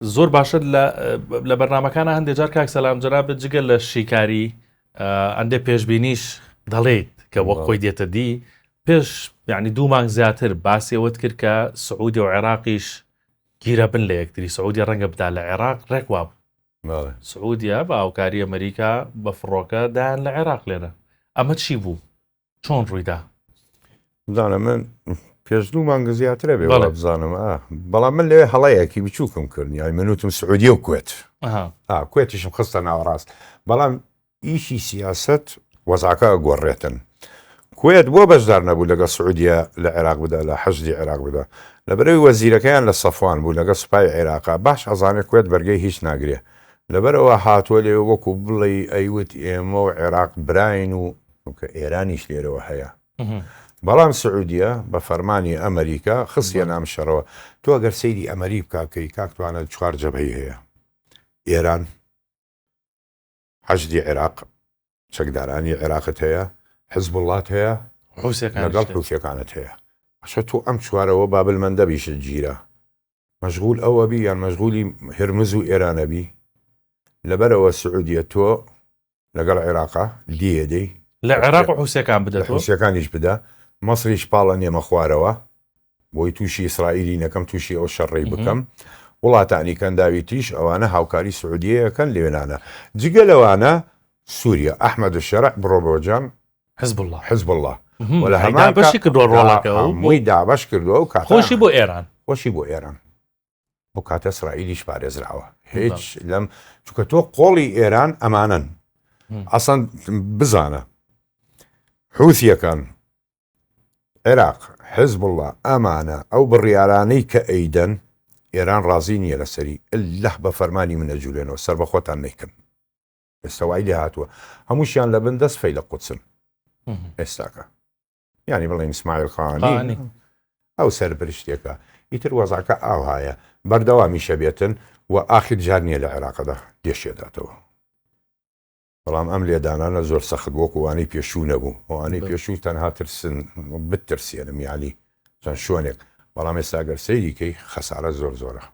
زۆر باشە لە لە بەرنمەکانە هەندێک جار کاک سەسلام جەرابێت جگە لە شیکاری ئەندێ پێشببینیش دەڵێیت کە وەک خۆی دێتە دی پێش یعنی دوو مانگ زیاتر باسیەوەت کرد کە سعودی و عێراقیش گیرە بن لە یەکتری سعودی ڕەنگە بدا لە عێراق ڕێک واب سعودیا بە هاوکاری ئەمریکا بە فڕۆکە دایان لە عێراق لێنە ئەمە چی بوو چۆن ڕوویدا؟ بزانە من پێش دوو مانگە زیاترە بێ بەڵێ. بزانم ئا. بەڵام من لێ هەڵەیەکی بچووکم کرد یای منوتم سعودیە و کوێت ئەها ئا کوێتیشم خستە ناوەڕاست بەڵام ئیشی سیاست وەزاکە گۆڕێتن کوێت بۆ بەشدار نەبوو لەگە سعودیە لە عێراق بدا لە حەشدی عێراق بدا لە بەرەوی وەزیرەکەیان لە سەفوان بوو لەگە سوپای عێراقا باش ئەزانێت کوێت بەرگەی هیچ ناگرێ لەبەرەوە هاتووە لێ وەکو بڵێ ئەیوت ئێمە و عێراق براین و چونکە ئێرانیش لێرەوە هەیە بەڵام سعودیە بە فەرمانی ئەمریکا خستیە نام شەڕەوە تۆ گەر سەیری ئەمەری بکاکەی کاکتوانە چوار جەبهی هەیە ئێران حەشدی عێراق چەکدارانی عێراقت هەیە حزب وڵات هەیە لەگەڵ حوسەکانت هەیە ئەشە تۆ ئەم چوارەوە بابل مندەبیشت گیرە مەشغول ئەو ئەبی یان مەشغولی هرمز و ئێران ئەبی لەبەر ئەوە سعودیە تۆ لەگەڵ عێراقا دیێ دەی لە عێراق و حوسەکان بدە حوسەکانیش بدە مەسریش پاڵە نێمە خوارەوە بۆی تووشی ئیسرائیلی نەکەم تووشی ئەو شەڕی بکەم وڵاتانی کەنداوی تریش ئەوانە هاوکاری سعودیەکەن لێنانە جگە لەوانە سووریا ئەحمد و شەرع بڕۆ بۆجان حزب اللە حزب اللە و لە هەمان بەشی کردوە ڕۆڵەکە مووی دابش کردووە و کات خۆشی بۆ ئێران خۆشی بۆ ئێران ئەو کاتە ئیسرائیلیش پارێزراوە هیچ لەم چکە تۆ قۆڵی ئێران ئەمانن ئەسەند بزانە حوسیەکان عێراق حزب اللە ئەمانە ئەو بڕیارانەی کە ئەیدەن ئێران ڕازی نییە لەسەری اللە بە فەرمانی منە جوولێنەوە سەر بە خۆتان نیکەن ئێستا وای لێ هاتووە هەمووشیان لە بن دەست فەی لە قوچن ئێستاکە ینی بڵێن سمایل خانی ئەو سەر برشتێکە ئیتر وەزاکە ئاوهایە بەردەوامیشە بێتن و ئاخر جار نییە لە عێراقدا گەشێداتەوە بەڵام ئەم لێدانانە زۆر سەخت بۆ کوانەی پێشوو نەبوو ئەوانەی پێشوو تەنها ترسن بترسێنم یالی چەند شوێنێک بەڵام ئێستا گەر سەیریکەی خەسارە زۆر زۆرە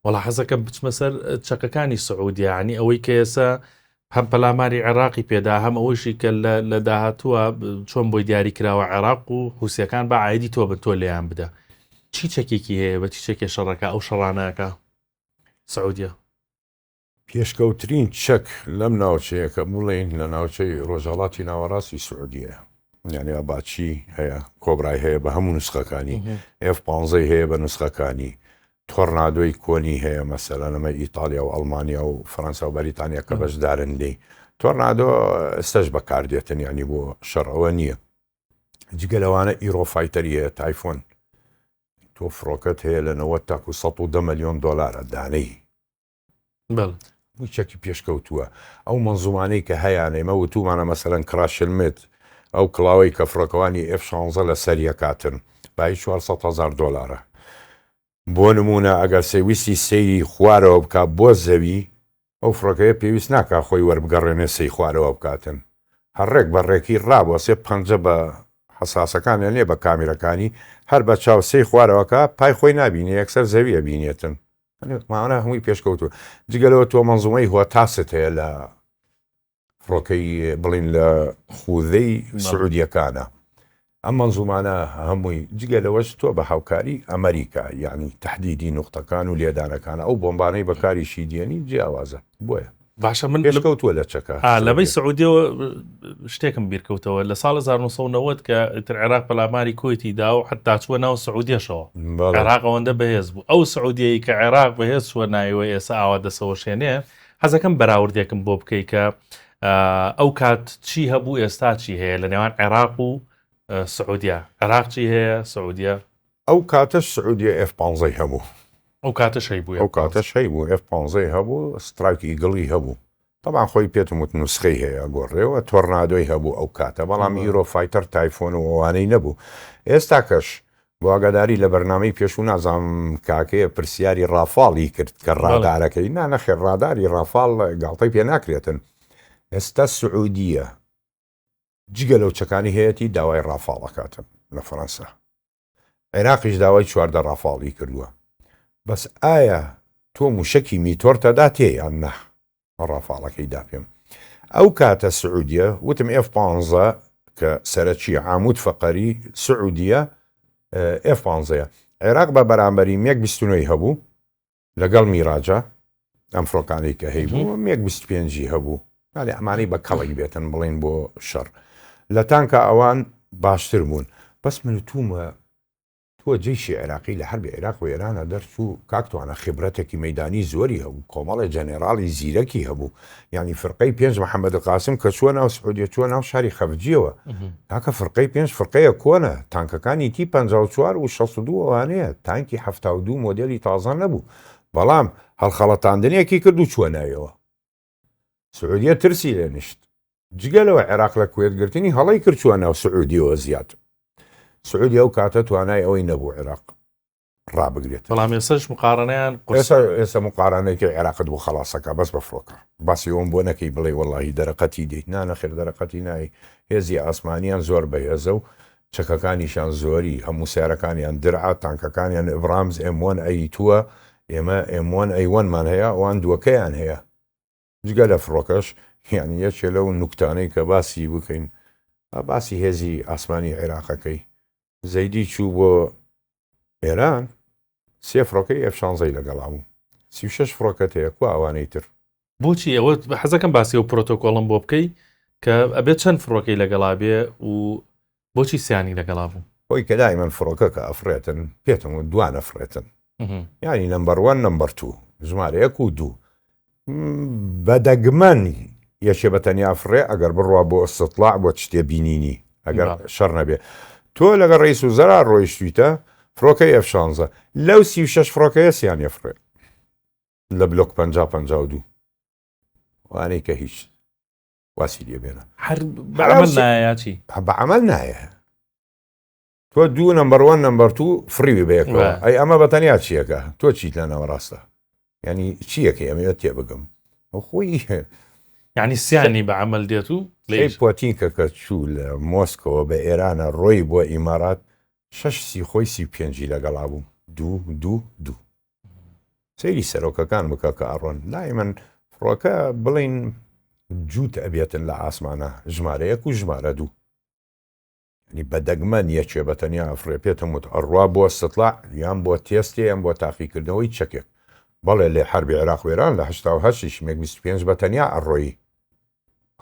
وەڵا حەزەکەم بچمە سەر چەکەکانی سعودیا عنی ئەوەی کە ئێسا هەم پەلاماری عێراقی پێدا هەم ئەوەشی کە لە داهاتووە چۆن بۆی دیاری کراوە عێراق و حوسەکان بە ئایدی تۆ بن تۆ لێیان بدە چی چەکێکی هەیە بە چی چەکێ شەڕەکە ئەو شەڕانەکە سعودیا پێشکەوترین چەک لەم ناوچەیە کە بڵێین لە ناوچەی ڕۆژهەڵاتی ناوەڕاستی سعودیەیە یانی ئاباچی هەیە کۆبرای هەیە بە هەموو نسخەکانی ئێف پانزەی هەیە بە نسخەکانی تۆرنادۆی کۆنی هەیە مەسەلا نەمە ئیتالیا و ئەلمانیا و فەەنسا و بەریتانیا کە بەشدارن لی تۆرنادۆ ئێستش بەکاردێتن ینی بۆ شەڕەوە نییە جگە لەوانە ئیرۆفایتەری هەیە تایفۆن تۆ فڕۆکەت هەیە لە 90 تاکو 110 ملیۆن دلارە دانەی بەڵێ. بووی چەکی پێشکەوتووە. ئەو مەنزومانەی کە هەیانە، ئێمە وتوومانە مەسەلەن کڕاشلمێت، ئەو کڵاوەی کە فڕۆکەوانی ئێف شانزە لە سەری ئەکاتن، بایی چوار سەد هەزار دۆلارە. بۆ نموونە ئەگەر سەیویستی سەیری خوارەوە بکا بۆ زەوی، ئەو فڕۆکەیە پێویست ناکا خۆی وەربگەڕێنێ سەی خوارەوە بکاتن. هەر ڕێک بە ڕێکی ڕابوەسێ پەنجە بە حەساسەکانی یان لێ بە کامیرەکانی، هەر بە چاو سەی خوارەوە کا، پای خۆی نابینێ یەکسەر زەوی ئەبینێتن. مانا هەمووی پێشکەوتووە جگەلەوە تۆ مەنزومەی هۆتاست هەیە لە فڕۆکەی بڵین لە خوودەی سعودیەکانە ئەم مەنزومانە هەمووی جگە لەوەش تۆ بە هاوکاری ئەمریکا یعنی تهدیدی نوختەکان و لێدانەکان ئەو بۆمبانەی بەکاریشی دێنی جیاوازە بۆیە باشە من پێشکەوتووە لە چەکە لەبەی سعودیەوە شتێکم بیرکەوتەوە لە ساڵ 1990 کە ئیتر عێراق پەلاماری کویتی دا و حتا چووە ناو سعودیەشەوە عێراق ئەوەندە بەهێز بوو ئەو سعودیەی کە عێراق بەهێز چووە نایوە ئێستا ئاوا دەسەوەشێنێ حەزەکەم بەراوردێکم بۆ بکەی کە ئەو کات چی هەبوو ئێستا چی هەیە لە نێوان عێراق و سعودیا عێراق چی هەیە سعودیا ئەو کاتەش سعودیە ئێف پانزەی هەبوو. ئەو کاتەش هەیبوو ئەو کاتەش هەیبوو ئێف پانزەی هەبوو سترایک ئیگڵی هەبوو تەبان خۆی پێتم وت نوسخەی هەیە ئەگۆڕێەوە تۆڕنادۆی هەبوو ئەو کاتە بەڵام ئیرۆ فایتەر تایفۆن و ئەوانەی نەبوو ئێستاکەش بۆ ئاگاداری لە بەرنامەی پێشوو نازام کاکەیە پرسیاری ڕافاڵی کرد کە ڕادارەکەی نا نەخێر ڕاداری ڕافاڵ گاڵتەی پێ ناکرێتن ئێستا سعودیە جگە لەو چەکانی هەیەتی داوای ڕافاڵ ئەکاتن لە فەرەنسا عێراقیش داوای چواردە ڕافاڵی کردووە بەس ئایا تۆ موشەکی میتۆرتە داتێ یان نە ڕافاڵەکەی دا پێم ئەو کاتە سعودیە وتم ئف پ کە سەرەکی عامود فەقەری سعودیە ئف پ عێراق بە بەرامبەری مێک بیستنەوەی هەبوو لەگەڵ میراجە ئەم فڕۆکانەی کە هەیبوو مێک بیست پێنجی هەبوو ناێ ئەمانەی بە کەڵک بێتن بڵین بۆ شەڕ لە تانکە ئەوان باشتر بوون بەس من تومە تۆ جیشی عێراقی لە حربی عێراق و ئێرانە دەرچوو کاکتوانە خبرەتێکی مەدانی زۆری هەبوو کۆمەڵی جەنێراڵی زیرەکی هەبوو یانی فرقەی پێنج محەمەد قاسم کە چووە ناو سعودیە چووە ناو شاری خەفجیەوە تاکە فرقەی پێنج فرقەیە کۆنە تانکەکانی تی 54 و 62 ئەوانەیە تانکی ه دو مۆدلی تازان نەبوو بەڵام هەڵخەڵەتاندنێکی کرد و چووە ناویەوە سعودیە ترسی لێ نیشت جگە لەوە عێراق لە کوێتگرتنی هەڵی کرد چووە ناو سعودیەوە زیاد سعودی ئەو کاتە توانای ئەوەی نەبوو عێراق ڕابگرێت بەڵام ئێسش مقارنەیان ئێستا مقارانێکی عێراقت بۆ خلاصەکە بەس بە فڕۆکە باسی ئەوم بۆ نەکەی بڵێ وەڵی دەرەقەتی دیت نانە خێر دەرەقەتی نایی هێزی ئاسمانیان زۆر بەهێزە و چەکەکانیشان زۆری هەموو سیارەکانیان درعا تانکەکانیان ئبرامز ئەموان ئەی تووە ئێمە ئەموان ئەیوانمان هەیە ئەوان دووەکەیان هەیە جگە لە فڕۆکەش یانی یەکێ لەو نوکتانەی کە باسی بکەین با باسی هێزی ئاسمانی عێراقەکەی زەیدی چوو بۆ ئێران سێ فڕۆکەی ئەف شانزەی لەگەڵا بوو سی و شەش فڕۆکەت هەیە کو ئەوانەی تر بۆچی ئەوە بە حەزەکەم باسی و پرۆتۆکۆڵم بۆ بکەی کە ئەبێت چەند فڕۆکەی لەگەڵا بێ و بۆچی سیانی لەگەڵا بوو؟ خۆی کە دایمەن فڕۆکەکە ئەفڕێتن پێتم و دوان ئەفڕێتن یانی نمبەر وەن نمبەر تو ژمارەیەک و دوو بە دەگمەن یەکێ بە تەنیا فڕێ ئەگەر بڕوا بۆ ئەستڵاع بۆ شتێ بینینی ئەگەر شەڕ نەبێ تۆ لەگە ڕیس و زەرا ڕۆیشتویتە فڕۆکە ئەف شانزە لەو سی و شش فڕۆکەیە سیان یەفڕێ لە بلۆک پ پ دوو وانەی کە هیچ واسی لێ بێنە هەر بە حەلاو عەمەل سی- نایەتی بە عمل نایە تۆ دوو نمبەروان نمبەر تو فریوی بەیەکەوە وە. ئەی ئەمە بە تەنیا چیەکە تۆ چیت لە ناوەڕاستە ینی چیەکە ئەمەوە تێ بگەم ئەو خۆی یعنی سیانی بە عمل دێت و لە سی پۆتینکە کە چوو لە مۆسکەوە بە ئێرانە ڕۆی بۆ ئیمارات شەش سی خۆی سی پێنجی لەگەڵا بوو دوو دوو دوو سەیری سەرۆکەکان بکە کە ئەڕۆن لای من فڕۆکە بڵین جووت ئەبێتن لە ئاسمانە ژمارەیەک و ژمارە دوو نی بەدەگمەن یەکێ بە تەنیا ئەفرێ پێتم وت ئەڕوا بۆ سەتڵا یان بۆ تێستێ یان بۆ تاقیکردنەوەی چەکێک بەڵێ لێ حربی عێراق وێران لە هشتاش مێک 25 بە تەنیا ئەڕۆیی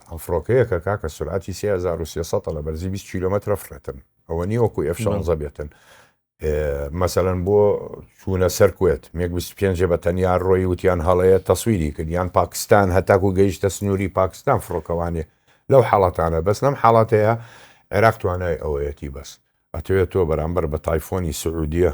ئەم فڕۆکەیەکە کاکە سرعتی 3300 لە بەرزی 20 کیلومتر فڕێتن ئەوە نی وەکو ئەف شانزە بێتن مەسەەن بۆ چوونە سەر کوێت مێک 25 بە تەنیا ڕۆی وتیان هەڵەیە تەسویری کردیان پاکستان هەتاکو گەیشتە سنووری پاکستان فڕۆکەوانێ لەو حاڵاتانە بەس لەم حاڵاتەیە عێراق توانای ئەوەیەتی بەس ئەتوێت تۆ بەرامبەر بە تایفۆنی سعودیە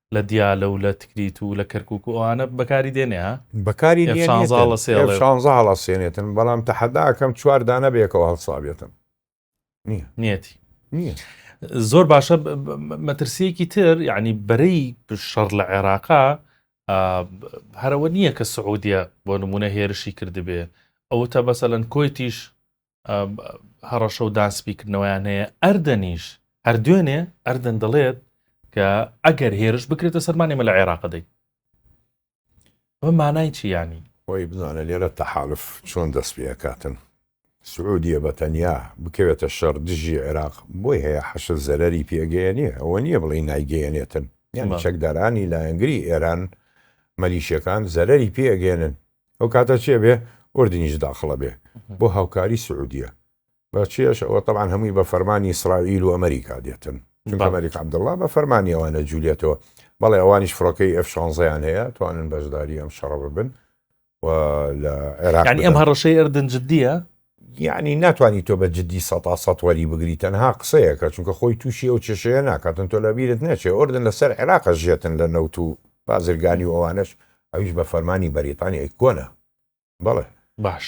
لە دیالە و لە تکریت و لە کەرکوک و ئەوانە بەکاری دێنێ ها؟ بەکاری ئێف دێنێتن شانزە هەڵەسێڵێ ئێف و شانزە هەڵەسێنێتن بەڵام تەحەدا ئەکەم چوار دانە بەیەکەوە هەڵسابێتن نییە نیەتی نییە زۆر باشە ب- ب- ب- مەترسیەکی تر یعنی بەرەی شەڕ لە عێراقا ئا، ب- هەرەوە نییە کە سعودیە بۆ نمونە هێرشی کردبێ ئەوتە بەسەلەن کۆیتیش هەڕەشە و داسپیکردنەوەیان هەیە ئەردەنیش هەر دوێنێ ئەردەن دەڵێت کە ئەگەر هێرش بکرێتە سەرمان ئێمە لە عێراق دەی بە مانای چیانی خۆی بزانە لێرە تەحالف چۆن دەست پێکاتن سعودیە بە تەنیا بکەوێتە شەڕ دژی عێراق بۆی هەیە حەشە زەرری پێگەیەنێ ئەوە نییە بڵێ نایگەیەنێتن یان چەکدارانی لایەنگری ئێران مەلیشەکان زەرری پێگەێنن ئەو کاتە چێ بێ ئۆردنیش داخڵە بێ بۆ هاوکاری سعودیە بە چێش ئەوە طبعاان هەمووی بە فەرمانی ئیسرائیل و ئەمریکا دێتن ئەمریکا عبدله بە فەرمانی ئەوانە جوولێتەوە بەڵێ ئەوانیش فڕۆکەی ئەف شانزەیان هەیە توانن بەشداری ئەم شەڕە ببن و لە عێراق ئەم هەڕەشەی ئەردن جددیە یەعنی ناتوانی تۆ بە جدی سەتا سەت وەری بگری تەنها قسەیەکە چونکە خۆی توشی ئەو کێشەیە ناکاتن تۆ لەبیرت نەچێ ئۆردن لەسەر عێراق ئەژێتن لە نەوت و بازرگانی و ئەوانەش ئەویش بە فەرمانی بەریتانی ئەی کۆنە بەڵێ باش.